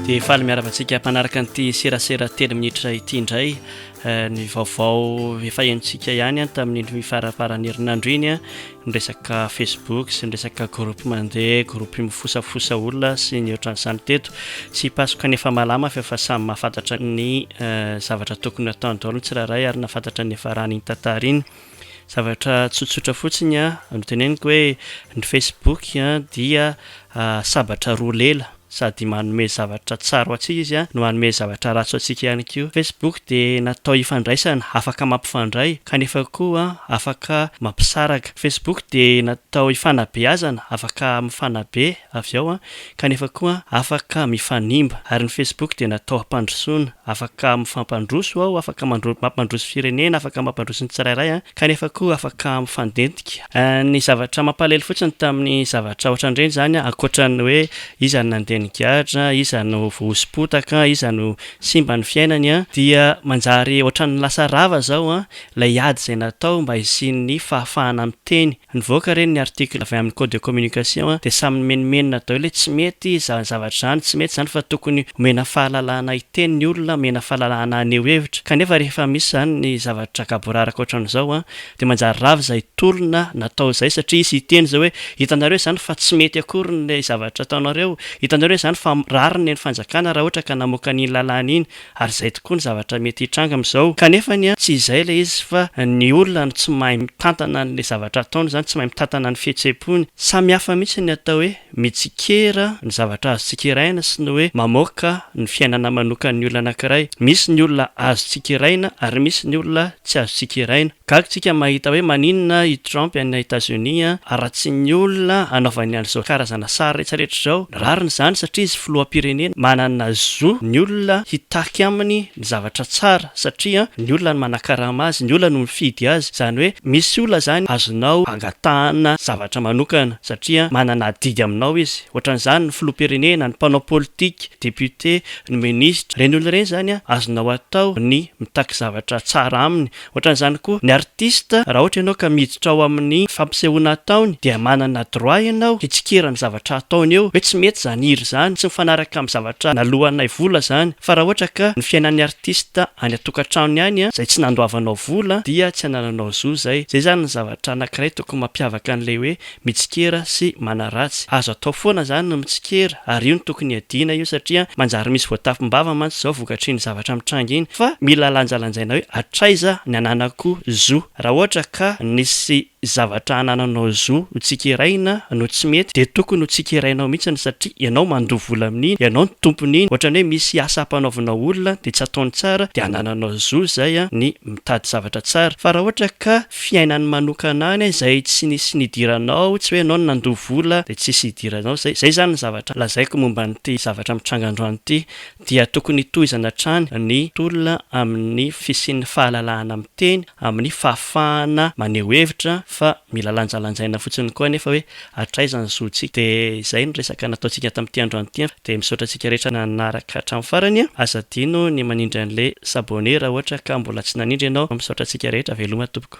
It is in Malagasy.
dia faly miarava antsika mpanaraka nyity serasera telo minitra ity indray eh, ny vaovao efa enontsika ihany an tamin'nyndry faraparany herinandro iny a nyresaka facebook sy nyresaka groupe mandeha groupe mifosafosa olona sy ny ohatrany samy teto tsy pasoka nefa malama fa efa samy mahafantatra ny eh, zavatra tokony ataony daolo ny tsirairay ary nafantatra ny efa raha ny tantara iny Zavatra tsotsotra fotsiny no teneniko hoe ny Facebook dia sabatra roa lela, sady manome zavatra tsara ho antsika izy no manome zavatra ratsy ho antsika ihany koa. Facebook dia natao hifandraisana, afaka mampifandray kanefa koa afaka mampisaraka. Facebook dia natao hifanabeazana, afaka mifanabe avy ao kanefa koa afaka mifanimba ary ny Facebook dia natao hampandrosoana afaka mifampandroso ao afaka mampandroso firenena afaka mampandroso ny tsirairay kanefa koa afaka mifandentika ny zavatra mampalahelo fotsiny tamin'ny zavatra otran'ireny izany ankoatran'ny hoe iza no nandeha nigadra iza no voahosompotaka iza no simba ny fiainany dia manjary otran'ny lasa rava izao ilay ady izay natao mba hisian'ny fahafahana miteny Nivoaka re ny article avy aminy code de communication a, dia samy nimenomenona daholo hoe tsy mety izany zavatra izany, tsy mety izany fa tokony omena fahalalahana hiteny ny olona, omena fahalalahana haneho hevitra, kanefa rehefa misy izany ny zavatra gaboraraka ohatran'izao a, dia manjary rava izay tolona natao izay satria izy hiteny izao hoe hitanareo izany fa tsy mety akory ilay zavatra ataonareo, hitanareo izany fa rariny ny fanjakana raha ohatra ka namoaka an'iny lalàna iny, Ary izay tokoa ny zavatra mety hitranga amin'izao. Kanefa anie tsy izay ilay izy fa ny olona no tsy mahay mitantana an'ilay zavatra ataony izany, tsy mahay mitantana ny fihetsem-pony. Samy hafa mihitsy ny atao hoe mitsikera ny zavatra azo tsikeraina sy ny hoe mamoaka ny fiainana manokan'ny olona anankiray. Misy ny olona azo tsikeraina ary misy ny olona tsy azo tsikeraina. Gaga isika mahita hoe maninona i Trump any Etazonia haratsian'ny olona hanaovany an'izao karazana sary retraretra izao. Rariny izany satria izy filoham-pirenena manana zo ny olona hitaky aminy ny zavatra tsara satria ny olona no manakarama azy, ny olona no mifidy azy. Izany hoe misy olona izany azonao angatahana zavatra manokana satria manana adidy aminao izy. Ohatran'izany ny filoham-pirenena, ny mpanao politika, député, ny ministra. Ireny olona ireny izany azonao atao ny mitaky zavatra tsara aminy Ohatran'izany koa ny artista, raha ohatra ianao ka miditra ao amin'ny fampisehoana ataony dia manana droit ianao hitsikera ny zavatra ataony eo, hoe tsy mety izany hira izany, tsy mifanaraka amin'ny zavatra naloanay vola izany, fa raha ohatra ka ny fiainan'ny artista any an-tokantranony any izay tsy nandoavanao vola dia tsy anananao zo izay, izay izany ny zavatra anankiray tokony mampiavaka an'ilay hoe mitsikera sy manaratsy. Azo atao foana zany ny mitsikera ary io no tokony hiadiana io satria manjary misy voatapim-bava mantsy zao vokatr'iny zavatra mitranga iny fa mila lanjalanjaina hoe hatraiza ny ananako zo. Raha ohatra ka nisy zavatra anananao zo ho tsikeraina no tsy mety dia tokony ho tsikerainao mihitsiny satria ianao mandoa vola amin'iny, ianao no tompon'iny, ohatrany hoe misy asa ampanaovinao olona dia tsy ataony tsara dia anananao zo zay ny mitady zavatra tsara fa raha ohatra ka fiainany manokana any izay tsy nisy nidiranao, tsy hoe ianao no nandoa vola dia tsisy hidiranao, izay izay izany ny zavatra lazaiko momba an'ity zavatra mitranga androany ity, dia tokony hitohizana hatrany ny tolona amin'ny fisian'ny fahalalahana miteny, amin'ny fahafahana maneho hevitra, fa mila lanjalanjaina fotsiny koa anefa hoe hatraiza ny zontsika, dia izay ny resaka nataontsika tamin'ity androany ity. Dia misaotra antsika rehetra nanaraka hatramin'ny farany a! Aza adino ny manindry an'ilay s'abonner raha ohatra ka mbola tsy nanindry ianao. Misaotra antsika rehetra, veloma tompoko.